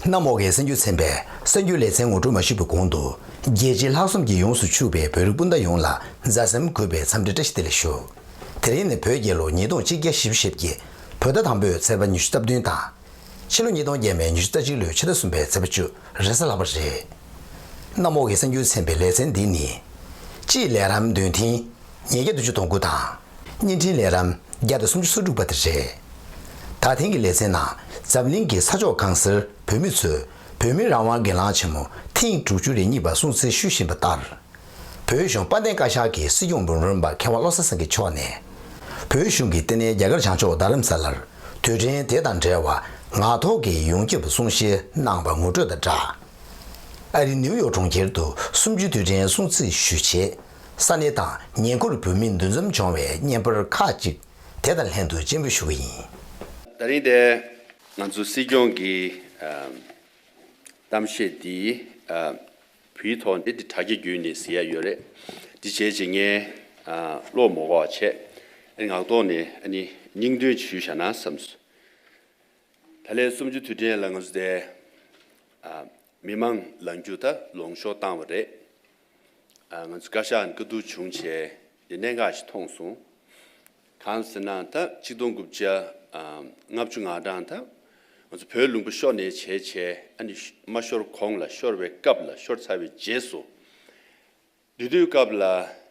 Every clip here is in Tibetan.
གནམ་འོག་གི་སེམས་རྒྱུད་ཚན་པས་གསར་འགྱུར་ལེ་ཚན་ངོ་སྤྲོད་མ་ཞུས་པའི་གོང་དུ། རྒྱལ་སྤྱིའི་ལྷག་བསམ་གྱིས་ཡོངས་སུ་ཕྱུག་པའི་བོད་རིགས་སྤུན་ཟླ་ཡོངས་ལ་མཛའ་སེམས་གུས་པའི་འཚམས་འདྲི་བཀྲ་ཤིས་བདེ་ལེགས་ཞུ། དེ་རིང་ནི་བོད་རྒྱལ་ལོ་ཉིས་སྟོང་གཅིག་བརྒྱ་བཞི་བཅུ་ཞེ་བརྒྱད། བོད་ཟླ་དང་པོའི་ཚེས་པ་ཉི་ཤུ་རྩ་བདུན་དང། ཕྱི་ལོ་ཉིས་སྟོང་བརྒྱད་པའི་ཉི་ཤུ་རྩ་གཅིག་ལོའི་ཕྱི་ཟླ་གསུམ་པའི་ཚེས་པ་བཅུ་རེས་གཟའ་ལྷག་པ་རེད། གནམ་འོག་གི་གསང་རྒྱུད་ཚན་པའི་ལེ་ཚན་འདི་ནི། སྤྱིའི་ལས་རམ་འདོན་ཐེངས་ཉིས་བརྒྱ་དྲུག་ཅུ་དང་དགུ་དང། བརྙན་འཕྲིན་ལས་རམ་བརྒྱ་དང་སུམ་ཅུ་སོ་དྲུག་པ་དེ་རེད། ད་ཐེངས་ཀྱི་ལེ་ཚན་ནང་འཛམ་གླིང་གི་ས་ཕྱོགས་གང་སར་བོད་མི་ཚོས་བོད་མིའི་རང་དབང་སྒེར་ལངས་ཆེན་མོ་ཐེངས་དྲུག་ཅུ་རེ་གཉིས་པ་སྲུང་བརྩི་ཞུ་བཞིན་པ་ལྟར། བོད་གཞུང་དཔལ་ལྡན་བཀའ་ཤག་གི་སྲིད་སྐྱོང་འབུམ་རམས་པ་མཁས་དབང་བློ་གསལ་སེང་གེ་མཆོག་ནས། བོད་གཞུང་གིས་བསྟི་གནས་རྒྱ་གར་བྱང་ཕྱོགས་རྡ་རམ་ས་ལར་དུས་དྲན་དེ་དང་འབྲེལ་བ་ངག་ཐོག་གི་ཡོངས་ཁྱབ་གསུང་བཤད་གནང་བ་ངོ་སྤྲོད་དང་སྦྲགས། ཨ་རི་ནིའུ་ཡོག་གྲོང་ཁྱེར་དུ་སུམ་བཅུའི་དུས་དྲན་སྲུང་བརྩི་ཞུ་ཆེད་ས་གནས་དང་ཉེ་འཁོར་བོད་མི་འདུ་འཛོམས་བྱུང་བའི་བརྙན་པར་ཁག་ཅིག་དེ་དང་ལྷན་དུ་སྤྱན་འབུལ་ཞུ་གི་ཡིན། ད་རིང་འདིར་ང་ཚོ་སྲིད་སྐྱོང་གི་གཏམ་བཤད་འདི་བུའི་ཐོག་འདི་དྲ་རྒྱ་བརྒྱུད་ནས་ཟེར་ཡ་ཡོད་རེད། འདི་བྱས་རྗེས་ངས་བློ་མོ་འགོག་བྱས། ངག་ཐོག་ནས་སྙིང་དོན་ཞུས་བཞག་ན་བསམས། ད་ལས་གསུམ་བཅུ་དུས་དྲན་ལ་ང་ཚོ་དེ་མི་མང་ལ་འགྱུར་ཐབས་ལོངས་ཤོག་བཏང་བ་རེད། ང་ཚོ་བཀའ་ཤག་ནས་བཀའ་བསྡུར་བྱུང་བྱས། འདི་གནད་འགག་ཞིག་མཐོང་སོང། གང་ཟེར་ན་ད་གཅིག་སྟོང་དགུ་བརྒྱ་ལྔ་བཅུ་ང་གྲངས་ད་ང་ཚོ་བོད་ལུང་པ་ཤོར་ནས་བྱས་བྱས་ཨ་ནི་མ་ཤོར་གོང་ལ་ཤོར་བའི་སྐབས་ལ་ཤོར་ཚར་བའི་རྗེས་སུ་འདུས་སྡོད་སྐབས་ལ་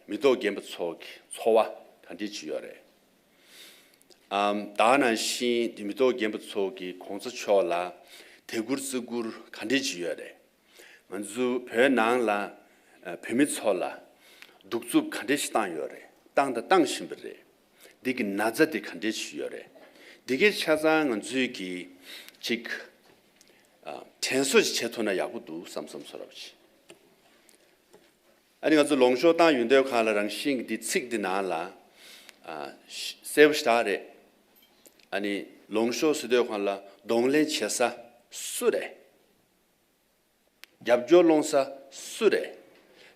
མི་ཐོག་རྒན་པ་ཚོ་གི་འཚོ་བ་ག་འདྲི་བྱེད་ཡོད་རེད་ཨམ། དག་ནང་བཞིན་འདུས་མི་ཐོག་རྒན་པ་ཚོ་གི་གོང་ཚ་མཆོག་ལ་དད་བཀུར་བརྩི་བཀུར་ག་འདྲི་བྱེད་ཡོད་རེད། ང་ཚོ་བོད་ནང་ལ་བོད་མི་ཚོ་ལ་གདུག་རྩུབ་ག་འདྲེ་ཞིག་བཏང་ཡོད་རེད་བཏང་དང་བཏང་བཞིན་པ་རེད་འདི་གི་ན་ཚ་དེ་ག་འདྲེ་ཞིག་ཡོད་རེད་འདི་གའི་ཆ་ཚང་ང་ཚོས་གི་ཅིག་དྲན་གསོ་ཞིག་བྱེད་ཐུབ་ན་ཡག་པོ་འདུག་བསམ་བསམ་ཚོར་བ་ཞིག་ཨ་ནི་ང་ཚོ་ལོང་ཤོག་བཏང་ཡོད་འདོད་ཁ་ལ་རང་བཞིན་གི་འདི་ཚིག་འདི་ནང་ལ་གསལ་བོ་ཞིག་དག་རེད་ཨ་ནི་ལོང་ཤོག་སྲིད་དོད་ཁང་ལ་གདོང་ལེན་བྱེད་ས་སུ་རེད། རྒྱབ་སྐྱོར་སློང་ས་སུ་རེད།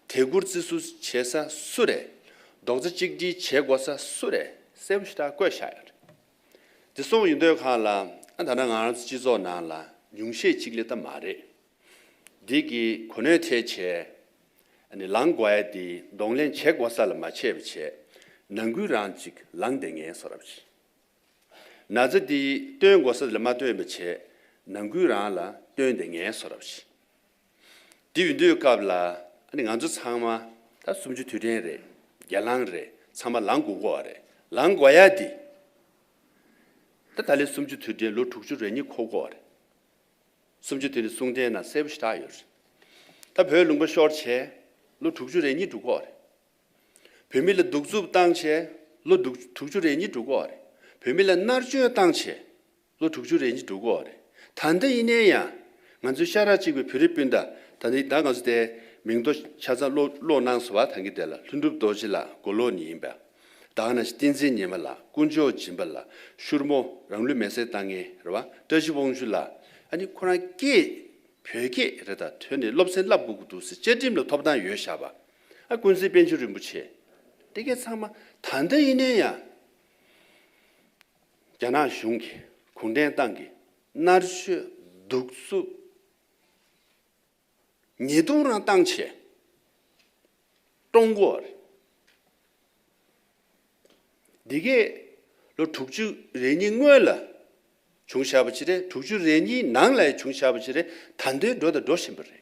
དད་བཀུར་བརྩི་བསུ་བྱེད་ས་སུ་རེད། རྡོག་རྩ་གཅིག་སྒྲིལ་བྱེད་དགོ་ས་སུ་རེད་གསལ་བོ་ཞེ་དྲག་བཀོད་བཞག་ཡོད་རེད། དེ་སོང་ཡོད་འདོད་གང་ལ་ཨ་ད་ནང་ང་རང་ཚོ་སྤྱི་ཚོགས་ནང་ལ་ཉུང་ཤས་གཅིག་ལས་ད་མ་རེད། འདི་གི་གོ་གནོད་ཐལ་བྱེད་ནི་ལང་དགོ་ཨེ་དེ་གདོང་ལེན་བྱེད་དགོ་ས་ལ་མ་བྱས་པ་བྱས་ནང་ཁུལ་རང་གཅིག་ལང་བསྡད་ངན་སོ་རབ་བྱེད། ན་ཚ་འདི་སྟོན་དགོ་ས་ལ་མ་སྟོན་པ་བྱས་ནང་ཁུལ་རང་ལ་སྟོན་དེ་ངལ་གསོ་རབས་བྱེད་འདི་འུ་འདོད་སྐབས་ལ་ནི་ང་ཚོ་ཚང་མ་ད་སུམ་ཅུ་དུས་དྲན་རེད་རྒྱ་ལང་རེད་ཚང་མ་ལང་དགོ་གོ་རེད་ལང་དགོ་ཡ་འདི་ད་ད་ལི་སུམ་ཅུ་དུས་དྲན་ལོ་དྲུག་ཅུ་རེ་གཉིས་འཁོར་གོ་རེད་སུམ་ཅུ་དུས་དྲན་གསུང་དྲན་ན་གསལ་པོ་ཞིག་གྲགས་ཡོད་རེད་ད་བོད་ལུང་པ་ཤོར་བྱས་ལོ་དྲུག་ཅུ་རེ་གཉིས་འགྲུག་གོ་རེད། བོད་མི་ལ་སྡུག་རྩུབ་བཏང་བྱས་ལོ་དྲུག་དྲུག་ཅུ་རེ་གཉིས་དྲུག་གོ་རེད། བོད་མི་ལ་མནར་གཅོད་བཏང་བྱས་ལོ་དྲུག་ཅུ་རེ་གཉིས་དྲུག་གོ་རེད། ད་ལྟ་ཡིན་ནའི་ཡང་ང་ཚོའི་ཤ་ར་གཅིག་པའི་བོད་རིགས་སྤུན་ཟླ་ད་ནི་ད་ང་ཚོ་དེ་མིང་ཐོ་ཆ་ཚང་ཀློག་ཀློག་གནང་སོ་བ་ད་གི་དེ་ལ་ལྷུན་གྲུབ་རྡོ་རྗེ་ལགས་མགོ་ལོག་ནི་ཡིན་པ་དང་ན་བསྟན་འཛིན་ཉི་མ་ལགས་དཀོན་མཆོག་སྦྱིན་པ་ལགས་ཤུར་མོ་རང་ལུས་མེ་སྲེག་བཏང་ངན་རེད་བ་བཀྲ་ཤིས་དབང་ཕྱུག་ལགས་ཨ་ནི་ཁོ་རང་སྐད་བོད་སྐད་རེད་ད་ཐོས་ནས་སློབ་ཚན་བསླབ་དགོས་ཀྱི་འདུག་ཟེར་བཅའ་ཁྲིམས་ལ་ཐོབ་ཐང་ཡོད་ཤག་བ། ཨ་ཀུན་གཟིགས་དཔལ་ཆེན་རིན་པོ་ཆེ། དེ་གའི་ཚང་མ་ད་ལྟ་ཡིན་ནའི་ཡང། རྒྱ་ནག་གཞུང་གིས་གུང་ཁྲན་ཏང་གི་མནར་གཅོད་གདུག་རྩུབ། ཉེས་རྡུང་རང་བཏང་ཆེད། ཀྲུང་གོར། འདི་གའི་ལོ་དྲུག་ཅུ་རེ་གཉིས་སྔོན་ལ་བྱུང་བཞག་པ་ཅི་རེད་དྲུག་ཅུ་རེ་གཉིས་ནང་ལ་ཡང་བྱུང་བཞག་པ་ཅི་རེད་ད་འདོད་འགྲོ་དང་འགྲོ་བཞིན་པ་རེད།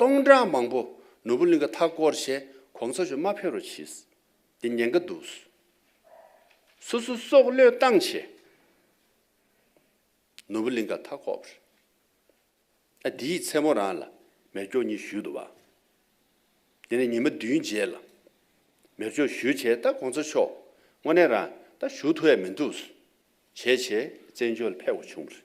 སྟོང་ཕྲག་མང་པོ་ནོར་བུ་གླིང་ག་མཐའ་བསྐོར་བྱས་གོང་ས་ཆུ་མ་ཕེབས་རོ་ཕྱིས་འདི་ཉེན་ཀ་འདུག། སོ་སོ་སྲོག་བློས་བཏང་བྱས། ནོར་བུ་གླིང་ག་མཐའ་བསྐོར་བར། ཨ་འདི་ཡི་མཚན་མོ་རང་ལ་མེར་སྒྱོགས་གཉིས་བཞུས་འདུག་བ། འདི་ནས་ཉི་མ་བདུན་རྗེས་ལ་མེར་སྒྱོགས་བཞུས་བྱས་ད་གོང་ས་མཆོག་དངོས་གནས་རང་ད་བཞུགས་ཐུ་ཡ་མི་འདུག་བྱས་བྱས་བཙན་བྱོལ་ཕེབས་འོ་བྱུང་བར།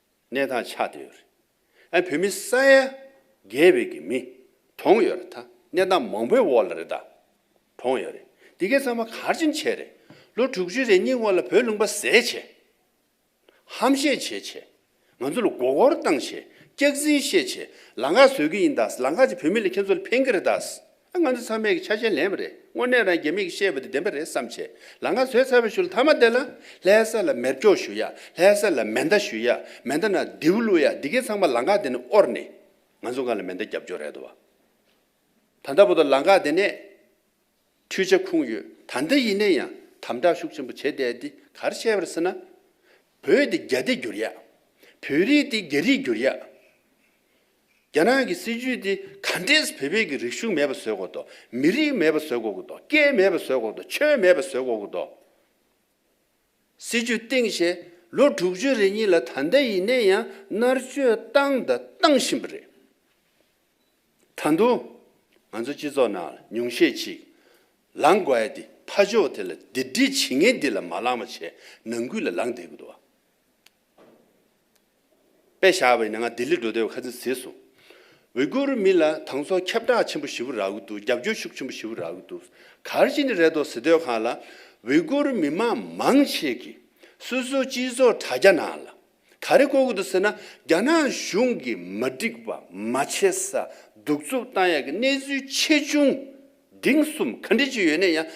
གནས་དང་ཆ་དེ་ཡོད་རེད། ཨ་བུད་མི་ས་ཡ་བརྒྱད་བོད་ཀྱི་མི་གྲོངས་ཡོད་རེད་ད་གནས་སྟངས་མང་པོའི་འོག་ལ་རེད་ད་གྲོངས་ཡོད་རེད་འདི་གས་ཚང་མ་གར་ཅིང་བྱས་རེད་ལོ་དྲུག་ཅུ་རེ་གཉིས་སྔོན་ལ་བོད་ལུང་པ་ཟས་བྱས། ཧམ་བཤད་བྱས་བྱས། ང་ཚོ་ལ་མགོ་སྐོར་བཏང་བྱས་སྐྱག་རྫིན་བཤད་བྱས་ལ་འགག་བཟོས་ཀྱི་ཡིན་ད་ལ་འགག་ཅིག་བོད་མི་ལ་ཁྱེད་ཚོ་ལ་ཕན་གྱི་རེད་ད། ང་ཚོ་ཚང་མས་ཆ་ཤས་ལེན་པ་རེད་དངོས་གནས་རང་རྒྱལ་མིག་གིས་ཤེས་པ་དེ་བདེན་པ་རེད་བསམ་ཆེ་ལ་ང་ཚོས་ཚ་བའི་ཤུལ་ཐ་མ་བསྡད་ན་ལྷའི་སར་ལ་མེར་སྐྱོག་ཞུ་ཡ་ལྷའི་སར་ལ་མེ་མདའ་ཞུ་ཡ་མེ་མདའ་ན་རྡེའུ་བླུག་ཡ་འདི་གའི་ཚང་མ་ལང་ཀ་དེ་ནས་དབོར་ནས་ང་ཚོ་གང་ལ་མེ་མདའ་རྒྱབ་སྐྱོར་རེད་བ། ད་ལྟ་བོ་ད་ལང་ཀ་དེ་ནས་འཕྲུལ་ཆ་ཁུངས་ཡོད་ད་འདི་ཡིན་ནས་ཡང་དམ་དྲག་ཤུགས་ཆེན་པོ་བྱེད་བསྡད་དེ་གར་ཤེས་པར་སེ་ན། བོད་དེ་རྒྱ་སྡེ་འགྱུར་ཡ། བོད་རིགས་དེ་རྒྱ་རིགས་འགྱུར་ཡ། རྒྱ་ནག་གི་སྲིད་ཇུས་དེ་ག་འདྲས་བོད་པའི་གི་རིག་གཞུང་མེད་པ་བཟོས་གོ་ཏོ་མི་རིགས་མེད་པ་བཟོས་གོ་གི་ཏོ་སྐད་མེད་པ་བཟོས་གོ་ཏོ་ཆོས་མེད་པ་བཟོས་གོ་གི་ཏོ། སྲིད་ཇུས་སྟེང་ཞེ་ལོ་དྲུག་ཅུ་རེ་གཉིས་ལ་ད་ལྟ་ཡིན་ནའི་ཡང་མནར་གཅོད་བཏང་དང་བཏང་བཞིན་པ་རེད། ད་དུང་ང་ཚོ་སྤྱི་ཚོགས་ནང་ལ་ཉུང་ཤས་ཅིག་ལང་དགོས་ཨེ་དེ་ཕ་ཕྱོགས་དེ་ལ་དེ་འདྲི་བྱེད་ངན་དེ་ལ་མ་ལང་བ་བྱས་ནང་ཁུལ་ལ་ལང་བསྡད་གི་ཏོ། པའི་ཞག་བའི་ནས་ང་ལྡི་ལི་འགྲོ་བདེ་བའི་ཁ་ཚིག་ཟེར་སོང། ཝི་གུ་རུ་མི་ལ་དང་སོ་ཁྱབ་བསྒྲགས་ཆེན་པོ་ཞི་བུ་རག་གི་འདུག་རྒྱབ་སྐྱོར་ཤུགས་ཆེན་པོ་ཞི་བུ་རག་གི་འདུག་གར་གཅིག་ནི་རེད་དོ་ཟི་སྟོད་ཁང་ལ་ཝི་གུ་རུ་མི་མང་མང་ཆེ་གི་སོ་སོའི་སྤྱི་ཚོགས་དྲ་རྒྱ་ནང་ལ་ག་རེ་བཀོད་གི་འདུག་ཟེར་ན་རྒྱ་ནག་གཞུང་གི་མ་འགྲིག་པ་མ་བྱེད་ས་གདུག་རྩུབ་བཏང་ཡག་གི་གནས་ཚུལ་ཆེ་ཆུང། འབྲིང་གསུམ་ག་འབྲི་རྒྱུ་ཡོད་ནས་ཡང་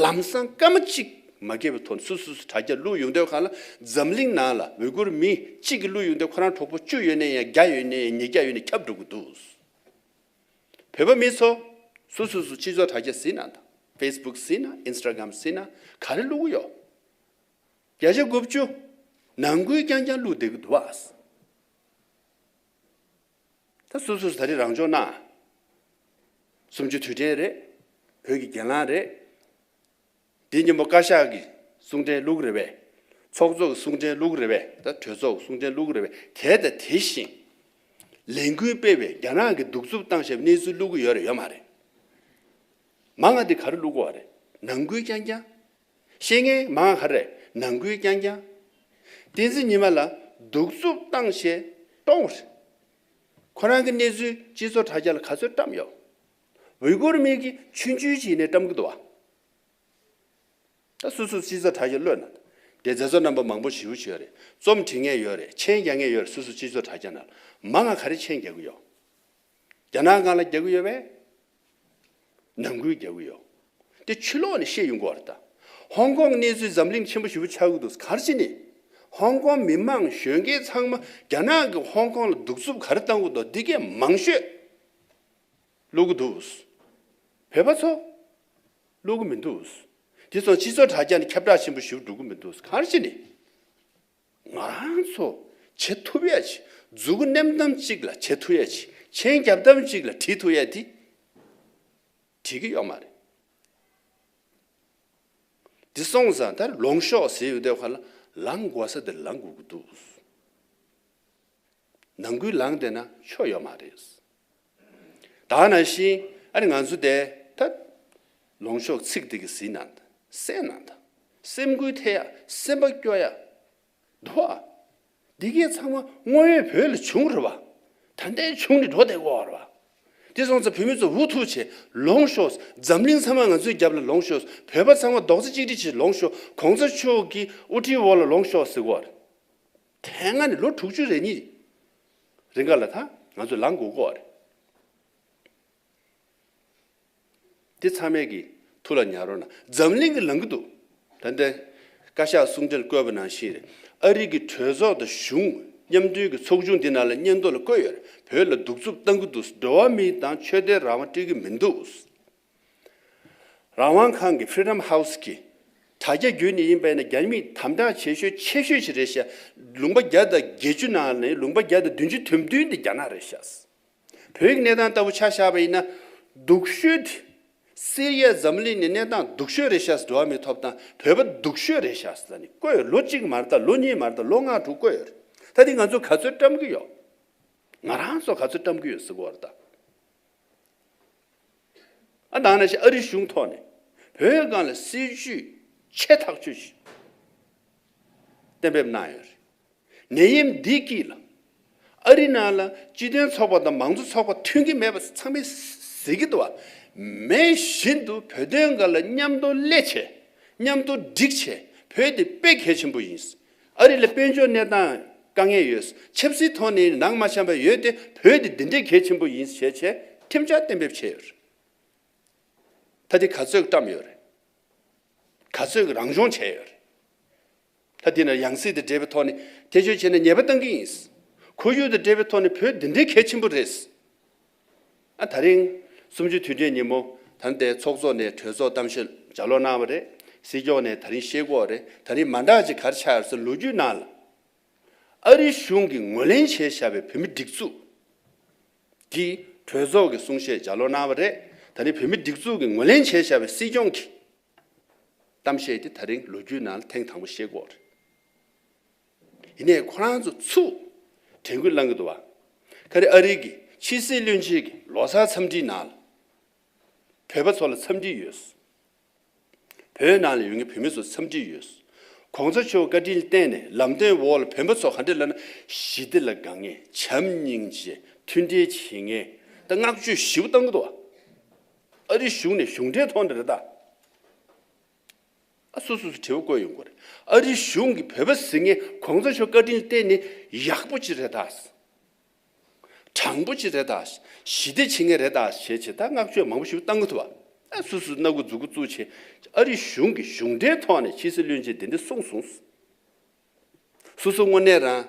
ལམ་སང་སྐར་མ་གཅིག་མ་བརྒལ་བའི་ཐོག་ནས་སུ་སུ་སུ་དྲ་རྒྱ་བླུགས་ཡོང་འདོད་གང་ལ་འཛམ་གླིང་ནང་ལ་འོས་སྒུར་མི་གཅིག་གིས་བླུགས་ཡོང་འདོད་ཁོ་རང་གྲོགས་པོ་བཅུ་ཡོད་ནས་ཡང་བརྒྱ་ཡོད་ནས་ཡང་ཉིས་བརྒྱ་ཡོད་ནས་ཁྱབ་འགྲོ་གི་འདུག་བོད་པ་མི་ཚོ་སུ་སུ་སུ་སྤྱི་ཚོགས་དྲ་རྒྱ་ཟིན་ན་དང facebook ཟིན་ན instagram ཟིན་ན་ག་རེ་བླུགས་གི་ཡོད་བརྒྱ་ཆ་དགུ་བཅུ་ནང་ཁུལ་རྐྱང་རྐྱང་བླུགས་བསྡད་གི་འདུག་བ། ད་སོ་སོས་ད་རེས་རང་སྦྱོང་གནང། གསུམ་བཅུ་དུས་དྲན་རེད། བོད་ཀྱི་གྱེན་ལངས་རེད། འདི་སྙན་པོ་བཀའ་ཤག་གི་གསུང་དྲན་ལུགས་རེད་བས། ཚོགས་གཙོ་གི་གསུང་དྲན་ལུགས་རེད་བས་ད་གྲོས་ཚོགས་ཀྱི་གསུང་དྲན་ལུགས་རེད་བས་དེ་དང་དེ་བཞིན། ལས་འགུལ་སྤེལ་བས་རྒྱ་ནག་གི་གདུག་རྩུབ་བཏང་ཞབས་གནས་ཚུལ་བླུག་གི་ཡོད་རེད་ཡོད་མ་རེད། མ་ང་འདི་ག་རེ་བླུག་དགོས་བ་རེད་ནང་འགུལ་རྐྱང་རྐྱང། བཤེས་གཉེན་མང་ཧ་རེ་ནང་ཁུལ་རྐྱང་རྐྱང། བསྟན་འཛིན་ཉི་མ་ལ་གདུག་རྩུབ་བཏང་བྱས་གཏོང། ཁོ་རང་གི་གནས་ཚུལ་སྤྱི་ཚོགས་དྲ་རྒྱ་ལ་ག་ཚོད་བཀྲམས་ཡོད། ཝི་ཀུར་མིག་གིས་ཆུན་ཆུན་བྱས་ནས་བཀྲམས་གི་འདུག་བ། ད་སུ་སུ་སྤྱི་ཚོགས་དྲ་རྒྱ་གློད་ན་དེ་མཛད་གཙོ་རྣམ་པ་མང་པོ་ཞི་བུ་བྱེད་ཡོད་རེད་རྩོམ་བྲིས་ངེས་ཡོད་རེད་མཆན་རྒྱག་ངེས་ཡོད་རེད་སུ་སུ་སྤྱི་ཚོགས་དྲ་རྒྱ་ན་མ་ང་ག་རེ་མཆན་རྒྱག་གི་ཡོད་རྒྱ་ནག་གང་ལ་རྒྱག་གི་ཡོད་བས། ནང་ཁུལ་རྒྱག་གི་ཡོད། དེ་ཆུ་ལོག་ནས་ཤེས་ཡོང་གི་བར་ད། ཧོང་ཀོང་གནས་ཚུལ་འཛམ་གླིང་ཆེན་པོ་ཞི་བོ་ཆགས་གི་འདུག་གར་ཅི་ནས། ཧོང་ཀོང་མི་མང་གཞོན་སྐྱེས་ཚང་མ་རྒྱ་ནག་གི་ཧོང་ཀོང་ལ་གདུག་རྩུབ་ག་རེ་བཏང་གི་འདུག་འདི་གས་མང་ཤོས་བློ་གི་འདུག། བོད་པ་ཚོ་བློ་གི་མི་འདུག། དེ་ཚོ་སྤྱི་ཚོགས་དྲ་རྒྱ་ནས་ཁྱབ་བསྒྲགས་ཆེན་པོ་ཞི་བོ་སྒྲུབ་གི་མི་འདུག་གར་ཅི་ནས། ང་རང་ཚོ་བྱེད་ཐུབ་ཡས་ཀྱི་འཛུགས་བསྣེམས་ཐམ་གཅིག་ལ་བྱེད་ཐུབ་ཡས་ཀྱི་མཆན་རྒྱབ་ཐམ་གཅིག་ལ་བྲིས་ཐུབ་ཡས་དེ་བྲིས་ཀྱི་ཡོད་མ་རེད། དེ་སོང་ཙང་དེར་ལོངས་ཤོག་ཟེར་ཡོད་དེ་ཁོ་ལ་ལངས་དགོས་ས་དེར་ལངས་དགོས་ཀྱི་འདུག། ནང་ཁུལ་ལངས་བསྡད་ན་ཆོ་ཡོད་མ་རེད། དག་ན་ཤིན་ཨ་རི་ང་ཚོ་བསྡད་ད། ལོང་ཤོག་ཚིག་འདི་གི་ཟིན་ན་ད་སེ་ན་ད། སེམས་འགུལ་ཐེ་ཡ་སེམས་པ་སྐྱོ་ཡ། འདུ་བ། འདི་གའི་ཚང་མ་དངོས་ཡོད་བོད་ལ་བྱུང་རུ་བ། ད་ནད་བྱུང་ནི་འགྲོ་བསྡད་གོ་རུ་བ། དེ་སོང་ཚ་བོད་མི་ཚོ་འུ་ཐུག་བྱེད་ལོང་ཤོག་འཛམ་གླིང་ཚང་མ་ང་ཚོའི་རྒྱབ་ལ་ལོང་ཤོག་བོད་པ་ཚང་མ་རྡོག་རྩ་གཅིག་སྒྲིལ་བྱེད་ལོང་ཤོག་གོང་ཚ་ཆོས་ཀྱི་དབུ་ཁྲིད་འོག་ལ་ལོང་ཤོག་ཟེར་གོ་རུ་དེ་སྔ་ནས་ལོ་དྲུག་ཅུ་རེ་གཉིས་རེ་འགའ་ལ་ད་ང་ཚོ་ལངས་དགོས་སྐོར་རེད། དེ་ཚང་མས་གི་ཐུགས་ལ་ཉར་རོགས་གནང། འཛམ་གླིང་གི་ལངས་གི་འདུག་ད་འདི་བཀའ་ཤག་གསུང་འཕྲིན་བཀོད་པ་ནང་བཞིན་རེད། ཨ་རིག་གི་གྲོས་ཚོགས་དང་གཞུང་མཉམ་མཐུན་གི་ཚོགས་ཆུང་འདི་ནང་ལ་སྙན་ཐོ་ལ་བཀོད་ཡོད་རེད་བོད་ལ་སྡུག་རྩུབ་བཏང་གི་འདུག་འགྲོ་བ་མི་དང་ཆོས་དད་རང་དབང་སྤྲིད་གི་མི་འདུག། རང་དབང་ཁང་གི Freedom House གྱིས། དྲ་རྒྱ་བརྒྱུད་ནས་ཡིན་པས་ན་རྒྱ་མིས་དམ་དྲག་བྱེད་ཤོས་ཆེ་ཤོས་ཤིག་རེད་ཤག་ལུང་པ་བརྒྱ་དང་བརྒྱད་ཅུ་ནང་ནས་ལུང་པ་བརྒྱ་དང་བདུན་ཅུ་དོན་བདུན་དེ་རྒྱ་ནག་རེད་ཤག་བོད་ཀྱི་གནས་སྟངས་ལྟ་བུ་ཆགས་ཤག་པ་ཡིན་ན་སྡུག་ཤོས་དེ་སེ་རི་ཡ་འཛམ་གླིང་ནས་གནས་སྟངས་སྡུག་ཤོས་རེད་ཤག་འགྲོ་བ་མི་ཐོབ་ཐང་བོད་པ་སྡུག་ཤོས་རེད་ཤག་ས་ནས་བཀོད་ཡོད་ལོ་གཅིག་མ་རེད་ལོ་གཉིས་མ་རེད་ལོ་ལྔ་དྲུག་བཀོད་ཡོད་རེད་ད་དེ་ང་ཚོ་ག་ཚོད་བཀྲམ་གྱི་ཡོད་ང་རང་ཚོ་ག་ཚོད་བཀྲམ་གྱི་ཡོད་ཟི་གོ་རེད་ད། ཨ་དང་ནས་ཞེས་ཨ་རིའི་གཞུང་ཐོག་ནས་བོད་མི་སྒང་ལ་སྲིད་བྱུས་ཆེ་ཐག་གཅོད་བཞིན་གཏན་འབེབས་གནང་ཡོད་རེད། ནད་ཡམས་འདི་གྱིས་ལ་ཨ་རི་ནང་ལ་སྤྱི་དོན་ཚོགས་པ་དང་མང་གཙོ་ཚོགས་པ་མཐུན་གྱི་མེད་པ་ཚང་མས་ཟེར་གྱི་འདུག་མེད་བཞིན་དུ་བོད་དོན་འགའ་ལ་མཉམ་དུ་སླད་བྱས་མཉམ་དུ་སྒྲིག་བྱས་བོད་དེ་དཔེ་གལ་ཆེན་པོ་ཡིན། ཨ་རི་ལ་དཔལ་འབྱོར་གནས་སྟངས་དཀའ་ངལ་ཡོད། ཆབ་སྲིད་ཐོག་ནས་ནང་མ་བྱམས་པ་ཡོད་དེ་བོད་དེ་འདི་འདྲའི་གལ་ཆེན་པོ་ཡིན་ཞེས་བྱས་ཁྲིམས་འཆར་གཏན་འབེབས་བྱས་ཡོད་རེད། ད་དེ་ག་ཚོད་བཀྲམས་ཡོད་རེད། ག་ཚོད་རང་སྦྱོང་བྱས་ཡོད་རེད། ད་དེ་ནས་ཡང་སྲིད་དང་འབྲེལ་བའི་ཐོག་ནས་ཐེ་ཇུས་བྱས་ནས་ཉེས་པ་བཏང་གི་ཡིན། ཁོར་ཡུག་དང་འབྲེལ་བའི་ཐོག་ནས་བོད་འདི་འདྲའི་གལ་ཆེན་པོ་རེད། ད་རིང། སུམ་ཅུ་དུས་དྲན་ཉིན་མོ་དར་མདའི་ཚོགས་གཙོ་ནས་གྲོས་ཚོགས་གཏམ་བཤད་ལྗགས་ཀློག་གནང་བ་རེད། སྲིད་སྐྱོང་ནས་ད་རིང་ཤེས་སྒོག་རེད་ད་རིང་མ་འདག་ཅིག་གར་ཆགས་སོ་ལོ་རྒྱུས་ནང་ལ། ཨ་རིའི་གཞུང་གིས་ངོས་ལེན་བྱས་བཞག་པའི་བོད་མི་སྒྲིག་འཛུགས། གིས་གྲོས་ཚོགས་ཀྱི་གསུང་བཤད་ལྗགས་ཀློག་གནང་བ་རེད་ད་རིང་བོད་མི་སྒྲིག་འཛུགས་ཀྱིས་ངོས་ལེན་བྱས་བཞག་པའི་སྲིད་སྐྱོང་གིས། གཏམ་བཤད་དེ་ད་རིང་ལོ་རྒྱུས་ནང་ལ་ཐེངས་དང་པོ་བཤད་སྒོ་རེད། ཡིན་ནའི་ཁོ་རང་ཚོ་ཚུར་དྲན་སྐུལ་གནང་གི་འདུག་བ། ཁ་རེ་ཨ་རིག་གི་ཕྱི་སྲིད་བློན་ཆེན་གྱི་ལོ་སར་འཚམས་འདྲིའི་ནང་ལ་བོད་པ་ཚོ་ལ་འཚམས་འདྲི་ཡོད། བོད་ནང་ལ་ཡོད་ངེས་བོད་མི་ཚོ་འཚམས་འདྲི་ཡོད། གོང་ས་མཆོག་བཀའ་དྲིན་བརྟེན་ནས་ལམ་སྟོན་འོག་ལ་བོད་པ་ཚོ་ག་འདྲ་ལབ་ན་ཞི་བདེ་ལ་དགའ་ངེས་བྱམས་སྙིང་རྗེ་མཐུན་འབྲེལ་བྱེད་ངེས་ད་བསྔགས་བརྗོད་ཞིབ་བཏང་གི་འདུག་བ། ཨ་རིའི་གཞུང་ནས་གཞུང་འབྲེལ་ཐོག་ནས་རེད་ད། ཨ་སོ་སོ་སོ་དྲི་བ་བཀོད་ཡོང་གི་རེད། ཨ་རིའི་གཞུང་གིས་བོད་པ་ཟི་ངེ་གོང་ས་མཆོག་བཀའ་དྲིན་བརྟེན་ནས་ཡག་པོ་ཅིག་རེད་ད། དྲང་པོ་ཅིག་རེད་ད། ཞི་བདེ་ཆེ་ངེས་རེད་ད་ཞེས་བྱས་ད་བསྔགས་བརྗོད་མང་པོ་ཞིག་བཏང་གི་ཐུབ། ཨ་སོ་སོ་སྣ་གུ་འཛུགས་གུ་བཙུགས་བྱས། ཨ་རིའི་གཞུང་གིས་གཞུང་འབྲེལ་ཐོག་ནས་ཕྱི་སྲིད་བློན་ཆེན་དེ་འདྲ་གསུངས་སོང། སོ་སོ་དངོས་གནས་རང།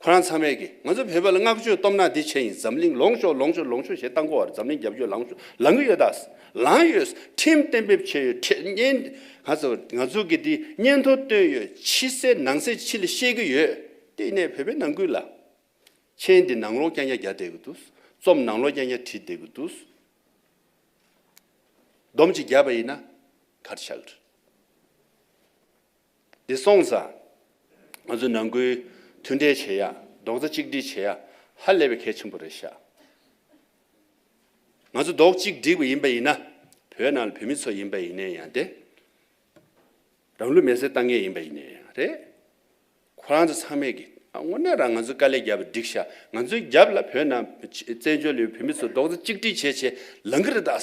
ཁོ་རང་ཚང་མས་ཀྱིས་ང་ཚོ་བོད་པ་ལ་བསྔགས་བརྗོད་སྟོབས་ན་འདི་བྱས་ཡིན་འཛམ་གླིང་ལོངས་ཤོག་ལོངས་ཤོག་ལོངས་ཤོག་ཞེས་རྟ་མགོ་བར་འཛམ་གླིང་རྒྱབ་སྐྱོར་ལངས་ཤོག་ལངས་ཀྱི་ཡོད་ད། ལངས་ཡོད། ཁྲིམས་གཏན་འབེབས་བྱས་ཡོད་ཁྲིམས་བརྙན། ང་ཚོ་ང་ཚོ་གིས་དེ་སྙན་ཐོ་བཏོན་ཡོད་ཕྱི་གསལ་ནང་གསལ་ཕྱི་ལ་ཤེས་ཀྱི་ཡོད། དེ་ནས་བོད་པའི་ནང་ཁུལ་ལ། མཆན་འདི་ནང་ལོག་རྐྱང་རྐྱང་རྒྱག་བསྡད་ཀྱི་འདུག་རྩོམ་ནང་ལོག་རྐྱང་རྐྱང་བྲིས་བསྡད་ཀྱི་འདུག་སྡོམ་གཅིག་བརྒྱབ་པ་ཡིན་ན་གར་ཆག་རེད། འདི་སོང་ཙང། ང་ཚོ་ནང་ཁུལ་མཐུན་འབྲེལ་བྱེད་ཡག་རྡོག་རྩ་གཅིག་སྒྲིལ་བྱེད་ཡག་ཧ་ལས་པའི་གལ་ཆེན་པོ་རེད་ཤག། ང་ཚོ་རྡོག་གཅིག་སྒྲིལ་བ་ཡིན་པ་ཡིན་ན་བོད་ནང་ལ་བོད་མི་ཚོ་ཡིན་པ་ཡིན་ནའི་ཡང་དེ་རང་ལུས་མེར་སྲེག་བཏང་མཁན་ཡིན་པ་ཡིན་ནའི་ཡང་རེད། ཁོ་རང་ཚོ་ཚང་མས་ཀྱི་དངོས་གནས་རང་ང་ཚོའི་དཀའ་ལས་རྒྱབ་བསྒྲིགས་ཤག་ང་ཚོའི་རྒྱབ་ལ་བོད་ནང་བཙན་བྱོལ་ཡོད་བོད་མི་ཚོ་རྡོག་རྩ་གཅིག་སྒྲིལ་བྱེད་བྱེད་ལང་གི་རེད་དཱ།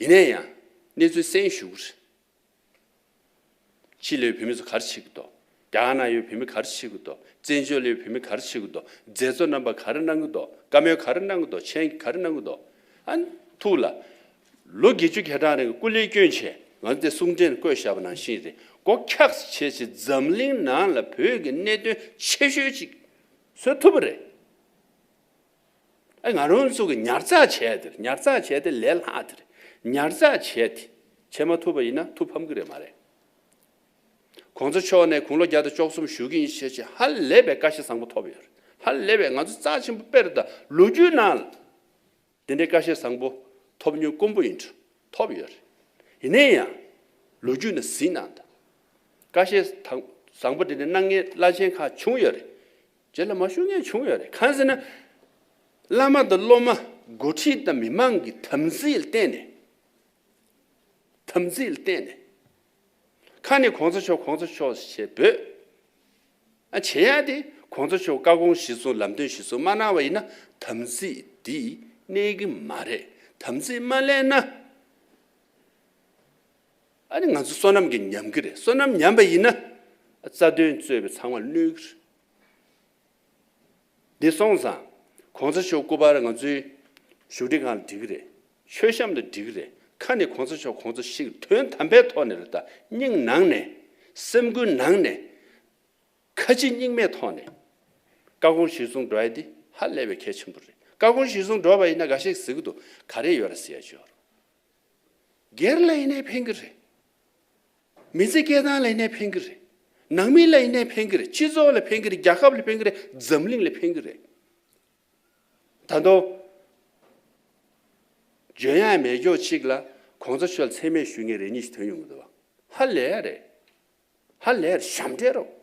ཡིན་ནས་ཡང་གནས་ཚུལ་གསན་ཞུགས། ཕྱི་ལོའི་བུད་མེད་ཚོ་གར་ཕྱི་གི་འདོག་རྒྱ་གར་ན་ཡོད་བུད་མེད་གར་ཕྱི་གི་འདོག་བཙན་བྱོལ་ལ་ཡོད་བུད་མེད་གར་ཕྱི་གི་འདོག་མཛད་གཙོ་རྣམ་པ་གར་གནང་གི་འདོག་བཀའ་མོལ་གར་གནང་གི་འདོག་མཆན་གྱི་གར་གནང་གི་འདོག་ཨ། ཐུགས་ལ། ལོ་བརྒྱད་ཅུ་གྱ་གྲངས་རིང་སྐུ་ལས་སྐྱོན་ཆེ་ང་ཚོ་དེ་གསུང་འཕྲིན་བཀོད་བཞག་པ་ནང་བཞིན་རེད་སྒོ་འཁྱགས་བྱེད་ཆེད་འཛམ་གླིང་ནང་ལ་བོད་ཀྱི་གནད་དོན་ཆེ་ཤོས་ཅིག་བཟོ་ཐུབ་པ་རེད། ང་རང་ཚོ་གི་ཉར་ཚགས་བྱས་དེར་ཉར་ཚགས་བྱས་ཏེ་ལས་སླ་དེར་ཉར་ཚགས་བྱས་ཏེ་བྱེད་མ་ཐུབ་པ་ཡིན་ན་ཐུགས་ཕམ་གི་རེད་མ་རེད། གོང་ཚོ་མཆོག་ནས་དགུང་ལོ་བརྒྱ་དང་བཅོ་གསུམ་བཞུགས་ཀྱིན་ཞེས་བྱས་ཧ་ལས་པའི་བཀའ་ཤེས་བཟང་པོ་ཐོབ་ཡོད་རེད་ཧ་ལས་པའི་ང་ཚོ་རྩ་ཆེན་པོ་དཔེར་ད་ལོ་རྒྱུས་ནང་ལ་དེ་འདྲའི་བཀའ་ཤེས་བཟང་པོ་ཐོབ་ཉུང་དཀོན་པོ་ཡིན་འདྲ་ཐོབ་ཡོད་རེད་ཡིན་ནའི་ཡང་ལོ་རྒྱུས་ནང་གཟིགས་ན་ད་བཀའ་ཤེས་བཟང་པོ་དེ་འདྲའི་སྣང་བརྙན་བླ་ཆེན་ཁག་བྱུང་ཡོད་རེད་རྗེས་ལ་མ་ཞུ་མཁན་བྱུང་ཡོད་རེད་གང་ཟེར་ན། བླ་མ་དང་སློབ་མ་འགོ་ཁྲིད་དང་མི་མང་གི་དམ་ཚིག་བརྟེན་ནས། དམ་ཚིག་བརྟེན་ནས། ཁ་ནས་གོང་ས་མཆོག་གོང་ས་མཆོག་ཞེས་འབོད། ཨ་བྱེད་ཡག་དེ་གོང་ས་མཆོག་བཀའ་དགོངས་གཞི་བཟུང་ལམ་སྟོན་གཞི་བཟུང་མ་གནང་བ་ཡིན་ན་དམ་ཚིག་འདི་གནས་གི་མ་རེད་དམ་ཚིག་མ་གླས་ན། ཨ་ནི་ང་ཚོ་བསོད་ནམས་ཀྱིས་ཉམས་ཀྱི་རེད་བསོད་ནམས་ཉམས་པ་ཡིན་ན། རྩ་དོན་རྩོད་པའི་ཚང་མ་བསླུས། འདི་སོང་ཙང་གོང་ས་མཆོག་སྐུ་པར་ང་ཚོའི་བཞུགས་ཁྲི་ཁང་ལ་འབྲི་གི་རེད་མཆོད་བཤམས་ལ་འབྲི་གི་རེད་ཁ་ནས་གོང་ས་མཆོག་གོང་ཚོ་ཞིག་དོན་དམ་པའི་ཐོག་ནས་རེད་ད་སྙིང་ནང་ནས་སེམས་འགུལ་ནང་ནས་ཁ་ལྕི་སྙིང་མའི་ཐོག་ནས་བཀའ་དགོངས་གཞི་བཟུང་འགྲོ་ཨེ་འདི་ཧ་ལས་པའི་གལ་ཆེན་པོ་རེད་བཀའ་དགོངས་གཞི་བཟུང་འགྲོ་བ་ཡིན་ན་འགའ་ཤས་གཟིགས་འདུག་ག་རེ་ཡོད་ར་ཟེར་ཡ་ཅོར། སྒེར་ལ་ཡིན་ནའི་ཕན་གི་རེད། མི་ཚེ་སྐྱེལ་སྟངས་ལ་ཡིན་ནའི་ཕན་གི་རེད། ནང་མི་ལ་ཡིན་ནའི་ཕན་གི་རེད། སྤྱི་ཚོགས་ལ་ཕན་གི་རེད། རྒྱལ་ཁབ་ལ་ཕན་གི་རེད། འཛམ་གླིང་ལ་ཕན་གི་རེད། ད་དུང། ལྗོན་ཡང་མེད་ཀྱོག་ཅིག་ལ་གོང་ས་མཆོག་ལ་མཚན་སྨད་ཞུ་མཁན་རེ་གཉིས་ཤིག་ཐོན་ཡོང་གི་འདུག་ཧ་ལས་རེད། ཧ་ལས་རེད་ཞབས་འདྲེན་རོགས།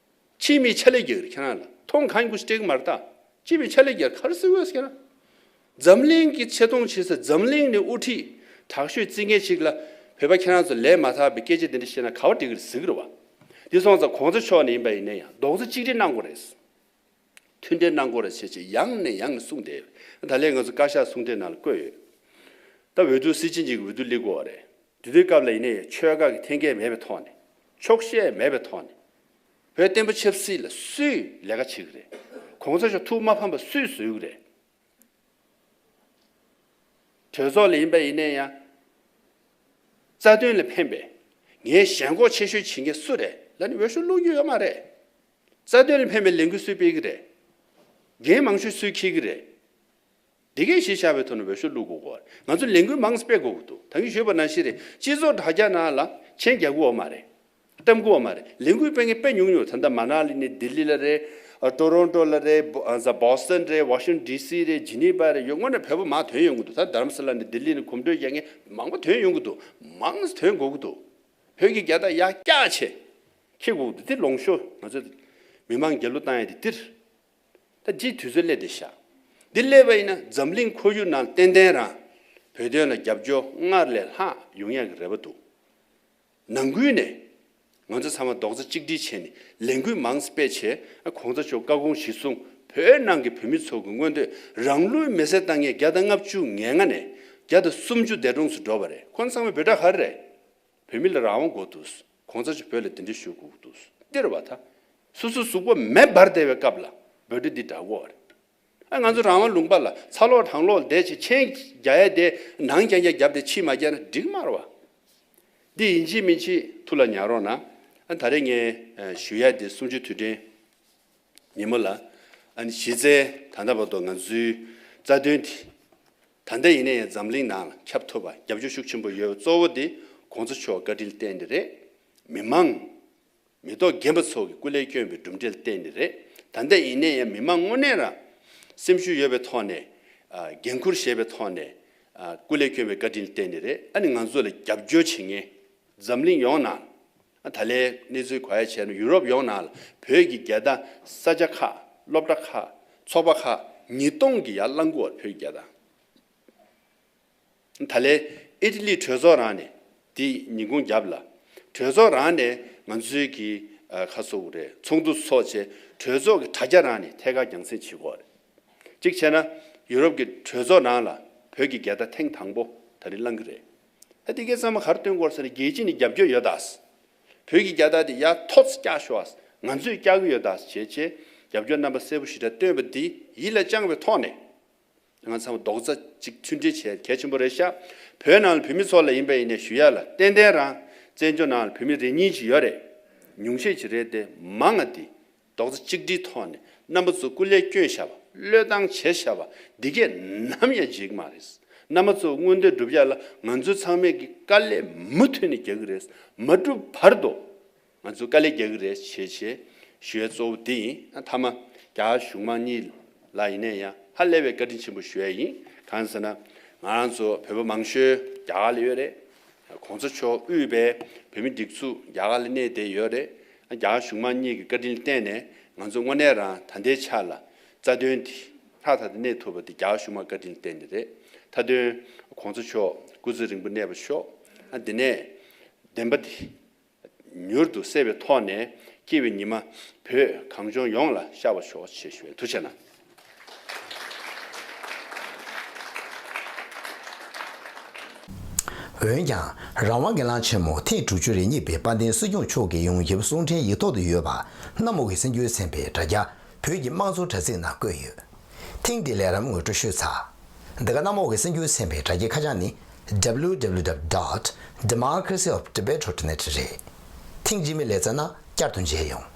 ཅི་མི་ཆ་ལེ་རྒྱ་ཁྱེད་རང་ལ་ཐོང་གང་གུ་སྤྲེག་མར་ལྟ་ཅི་མི་ཆ་ལེ་རྒྱ་གར་སི་འོས་ཁྱེད་རང། འཛམ་གླིང་གི་ཆེ་མཐོང་བྱེད་སའི་འཛམ་གླིང་ནས་དབུ་ཁྲིད་དྲག་ཤོས་རྩི་མཁན་ཞིག་ལ་བོད་པ་ཁྱེད་རང་ཚོ་ལས་མ་ཐག་པའི་སྐད་ཆ་འདི་འདྲ་བཤད་ན་ག་བ་འགྲིག་གི་རེད་ཟིག་རེད་བ། འདི་སོང་ཙང་གོང་ས་མཆོག་ནས་ཡིན་པ་ཡིན་ན་ཡང་རྡོག་རྩ་གཅིག་སྒྲིལ་གནང་དགོས་རེད། མཐུན་འབྲེལ་གནང་དགོས་རེད་ཅེས་ཀྱིས་ཡང་ནས་ཡང་ནས་གསུངས་ཏེ། ད་ལན་ང་ཚོ་བཀའ་ཤག་གསུང་འཕྲིན་ནང་ལ་བཀོད་ཡོད། ད་འོས་བསྡུ་སྲིད་སྤྱི་གཉིས་ཀྱི་འོས་བསྡུ་སླེབས་དགོས་བ་རེད། དེ་དུས་སྐབས་ལ་ཡིན་ནའི་ཆོལ་ཁ་གི་འཐེན་འཁྱེར་མེད་པའི་ཐོག་ནས། འཁྱོག་བཤད་མེད་པའི་ཐོག་ནས། བོད་བསྟན་པ་ཆབ་སྲིད་ལ་སུས་ལས་ཀ་བྱེད་གི་རེད། གོང་ས་མཆོག་ཐུགས་མ་ཕམ་པ་སུས་བཟོས་གི་རེད། གྲོས་ཚོགས་ལ་ཡིན་པ་ཡིན་ནའི་ཡང། རྩ་དོན་ལ་ཕན་པའི། ངའི་ཞེན་ཁོག་ཆེ་ཤོས་བྱེད་མཁན་སུ་རེད་ལ་ནི་འོས་ཤོག་བླུག་རྒྱུ་ཡོད་མ་རེད། རྩ་དོན་ལ་ཕན་པའི་ལས་འགུལ་སུས་སྤེལ་གི་རེད། འགན་མང་ཤོས་སུས་འཁྱེར་གི་རེད། དེ་གས་གཞི་བཞག་པའི་ཐོག་ནས་འོས་ཤོག་བླུག་དགོས་གོ་རེད། ང་ཚོ་ལས་འགུལ་མང་སྤེལ་དགོས་གི་འདུག་ད་གིན་ཞུས་པ་ན་ཤི་རེད། སྤྱི་ཚོགས་དྲ་རྒྱ་ནང་ལ་མཆན་རྒྱག་གི་འོ་མ་རེད། བཀྲམ་གི་འོ་མ་རེད། ལས་འགུལ་སྤེལ་མཁན་དཔེ་ཉུང་ཉུང་རེད་ད་ལྟ་མ་ན་ལི་ནས་ལྡི་ལི་ལ་རེད། Toronto ལ་རེད། Boston རེད། Washington DC རེད། Geneva རེད། ཡོད་སྔོན་ནས་བོད་པ་མང་དོན་ཡོང་གི་འདུག་ད་དར་མ་སི་ལ་ནས་ལྡི་ལི་ནས་གོམ་བགྲོད་རྒྱག་མཁན་མང་པོ་དོན་ཡོང་གི་འདུག་མང་དོན་དགོས་གི་འདུག་བོད་ཀྱི་རྒྱལ་དར་ཡག་སྐྱག་ཆེ། ཁྱེད་འུ་འདི་ལོངས་ཤོག་ང་ཚོ་མི་མང་རྒྱལ་གླུ་བཏང་ཡས་དེ་ལྟིར་ད་རྗེས་དུས་ཚོད་སླེ་དེ་བཞག་འདི་སླེ་བ་ཡིན་ན་འཛམ་གླིང་ཁོར་ཡུག་ནང་ཏན་ཏན་རང་བོད་དོན་ལ་རྒྱབ་སྐྱོ་སྔར་ལས་ལྷག་ཡོང་ཡག་གི་རེ་བ་འདུག་ནང་ཁུལ་ནས་ང་ཚོ་ཚང་མ་རྡོག་རྩ་གཅིག་སྒྲིལ་བྱས་ནས་ལས་འགུལ་མང་སྤེལ་བྱས་ན་གོང་ས་མཆོག་བཀའ་དགོངས་གཞི་བཟུང་བོད་ནང་གི་བོད་མི་ཚོ་གི་མངོན་འདོད་རང་ལུས་མེ་སྲེག་བཏང་ངེས་བརྒྱ་དང་ལྔ་བཅུ་ངེ་ལྔ་ནས་བརྒྱ་དང་སུམ་ཅུ་འདས་གྲོངས་སུ་འགྲོ་བ་རེད་ཁོང་ཚང་མ་བོད་གྲགས་ཧར་རེད་བོད་མི་ལ་རང་དབང་དགོ་དུས། གོང་ས་ཆུ་བོད་ལ་དེ་འདྲའི་ཞུ་གུག་འདུག་སྟེར་བ་ད། སོ་སོའི་གཟུགས་པོ་མེ་འབར་བདེ་བའི་སྐབས་ལ་འབོད་སྒྲ་འདི་འདྲ་གོ། ཨ་ང་ཚོ་རང་དབང་ལུང་པ་ལ་ཚ་ལོག་དྲང་ལོག་འདེད་བྱེད་མཁྱེན་རྒྱ་ཡ་དེ་ནང་རྐྱང་རྐྱང་རྒྱབ་སྟེ་ཕྱི་མ་རྒྱག་ན་འགྲིག་དམར་བ། འདི་ཡིན་ཅི་མིན་ཅི་ཐུགས་ལ་ཉར་རོགས་གནང། ད་རེས་ངས་ཞུ་ཡ་དེ་གསུམ་བཅུ་དུས་དྲན་ཉིན་མོ་ལ། གཞི་རྩའི་ད་ལྟ་བར་དུ་ང་ཚོའི་རྩ་དོན་དེ། ད་ལྟ་ཡིན་ན་ཡང་འཛམ་གླིང་ནང་ལ་ཁྱབ་ཐུབ་པ་རྒྱབ་སྐྱོར་ཤུགས་ཆེན་པོ་ཡོད་གཙོ་བོ་དེ་གོང་ས་མཆོག་བཀའ་དྲིན་བརྟེན་ནི་རེད། མི་མང། མི་ཐོག་རྒན་པ་ཚོ་གི་སྐུ་ལས་བསྐྱོན་པའི་གྲུབ་འབྲས་བརྟེན་ནི་རེད། ད་ལྟ་ཡིན་ན་ཡང་མི་མང་དངོས་གནས་རང་སེམས་ཤུགས་ཡོད་པའི་ཐོག་ནས། འགན་འཁུར་བཞེས་པའི་ཐོག་ནས། སྐུ་ལས་བསྐྱོན་པའི་བཀའ་དྲིན་བརྟེན་ནི་རེད། ཨ་ནི་ང་ཚོ་ལ་རྒྱབ་སྐྱོར་བྱེད་མཁན་འཛམ་གླིང་ཡོངས་ནང། ད་ལན་གནས་ཚུལ་གོ་ཡ་བྱས་ན་ཡུ་རོབ་ཡོངས་ནང་ལ་བོད་ཀྱི་རྒྱལ་དང་ས་ཆ་ཁག་སློབ་གྲྭ་ཁག་ཚོགས་པ་ཁག་ཉིས་སྟོང་གི་ཡར་བླངས་དགུ་བར་བོད་ཀྱི་རྒྱལ་དང། ད་ལན་ཨི་ཏི་ལི་གྲོས་ཚོགས་རང་ནས་དེ་ཉིན་གུང་རྒྱབ་ལ་གྲོས་ཚོགས་རང་ནས་ང་ཚོའི་གི་ཁ་གསོ་བོ་རེད་ཚོགས་འདུ་ཚོགས་ཆེ་གྲོས་ཚོགས་གི་དྲ་རྒྱ་རང་ནས་ཐད་ཀར་རྒྱང་སྲིང་བྱེད་དགོས་རེད་གཅིག་བྱས་ན་ཡུ་རོབ་གི་གྲོས་ཚོགས་ནང་ལ་བོད་ཀྱི་རྒྱལ་དང་ཐེངས་དང་པོ་ད་རིང་བླངས་གི་རེད། ཨ་ཏི་ཀའི་ཙམ་གར་སྟོན་སྐོར་སར་རྒྱལ་སྤྱི་ནས་རྒྱབ་སྐྱོར་ཡོད་དཱ། བོད་ཀྱི་རྒྱལ་དར་དེ་ཡ་ཐོག་ཙི་བཀྱག་ཤོག་ཨཱ། ང་ཚོས་བཀྱག་གི་ཡོད་དཱ་བྱས་རྗེས་རྒྱབ་སྐྱོར་རྣམ་པ་གསལ་པོ་ཞིག་འདྲ་སྟོན་པ་འདི་ཡིད་ལ་བཅངས་པའི་ཐོག་ནས། ང་ཚང་མ་རྡོག་རྩ་གཅིག་མཐུན་སྒྲིལ་བྱེད་གལ་ཆེན་པོ་རེད་ཤག་བོད་ནང་ལ་བོད་མི་ཚོ་ལ་ཡིན་པ་ཡིན་ནས་ཞུ་ཡ་ལ་ཏན་ཏན་རང་བཙན་ཇོ་ནང་ལ་བོད་མི་རེ་གཉིས་ཅིག་ཡོད་རེད་ཉུང་ཤས་ཅིག་རེད་དེ་མང་ང་འདི་རྡོག་རྩ་གཅིག་སྒྲིལ་ཐོག་ནས་རྣམ་པ་ཚོ་སྐུ་ལས་སྐྱོན་བཞག་པ་བློས་བཏང་བྱེད་བཞག་པ་འདི་གས་ནམ་ཡང་འཇིག་མ་རེད། རྣམ་པ་ཚོ་མངོན་འདོད་འགྲུབ་བཞག་ལ་ང་ཚོའི་ཚང་མས་ཀྱི་དཀའ་ལས་མུ་མཐུད་ནས་རྒྱག་གི་རེད། མ་འགྲུབ་བར་དུ་ང་ཚོས་དཀའ་ལས་རྒྱག་གི་རེད་ཞེས་བཤད། ཞུ་ཡས་གཙོ་བོ་དེ་ཡིན་མཐའ་མ་རྒྱ་གཞུང་མང་གཉིས་ལ་ཡིན་ན་ཡང་ཧ་ལས་པའི་བཀའ་དྲིན་ཆེན་པོ་ཞུ་ཡས་ཡིན་གང་ཟེར་ན་ང་རང་ཚོ་བོད་པ་མང་ཤོས་རྒྱ་གར་ལ་ཡོད་རེད། གོང་ས་མཆོག་དབུས་པའི་བོད་མི་སྒྲིག་ཚུགས་རྒྱ་གར་ལ་གནས་བསྡད་ཡོད་རེད། རྒྱ་གར་གཞུང་མང་གཉིས་ཀྱི་བཀའ་དྲིན་བརྟེན་ནས་ང་ཚོ་དངོས་གནས་རང་ད་ལྟའི་ཆ་ལ་རྩ་དོན་དེ་ལྷག་ད་ལྟ་གནས་ཐུབ་པ་དེ་རྒྱ་གར་གཞུང་མང་བཀའ་དྲིན་བརྟེན་ནས་རེད་མཐའ་དོན་གོང་ས་མཆོག་སྐུ་ཚེ་རིང་པོ་གནས་པ་ཤོག་ཨ་དེ་ནས་བདེན་པ་དེ་མྱུར་དུ་གསལ་བའི་ཐོག་ནས་སྐྱེས་བའི་ཉི་མ་བོད་གངས་ལྗོངས་ཡོངས་ལ་ཤར་བ་ཤོག་ཆེ་ཞུ་བའི་འདུ་བྱེད་ན། འོན་ཀྱང་རང་དབང་གི་གླང་ཆེན་མོ་ཐེངས་དྲུག་ཅུ་རེ་གཉིས་པའི་དཔལ་ལྡན་སྲིད་སྐྱོང་མཆོག་གི་ཡོངས་ཁྱབ་གསུང་འཕྲིན་ཡིག་ཐོག་ཏུ་ཡོད་པ་གནམ་འོག་གི་སྲིད་འགྱུར་ཚན་པའི་དྲ་རྒྱ་བོད་ཀྱི་དམངས་གཙོ་དྲ་ཚིགས་ནང་བཀོད་ཡོད། ཐེངས་འདིའི་ལས་རམ་ངོ་སྤྲོད་ཤུལ་ཚགས། འདི་ག་གནམ་འོག་གི་སྲིད་འགྱུར་ཚན་པའི་དྲ་རྒྱའི་ཁ་བྱང་ནི www.democracyoftibetrotnet རེད། ཐེངས་རྗེས་མའི་ལས་རྩ་ནང་བསྐྱར་དུ་མཇལ་ཡོང།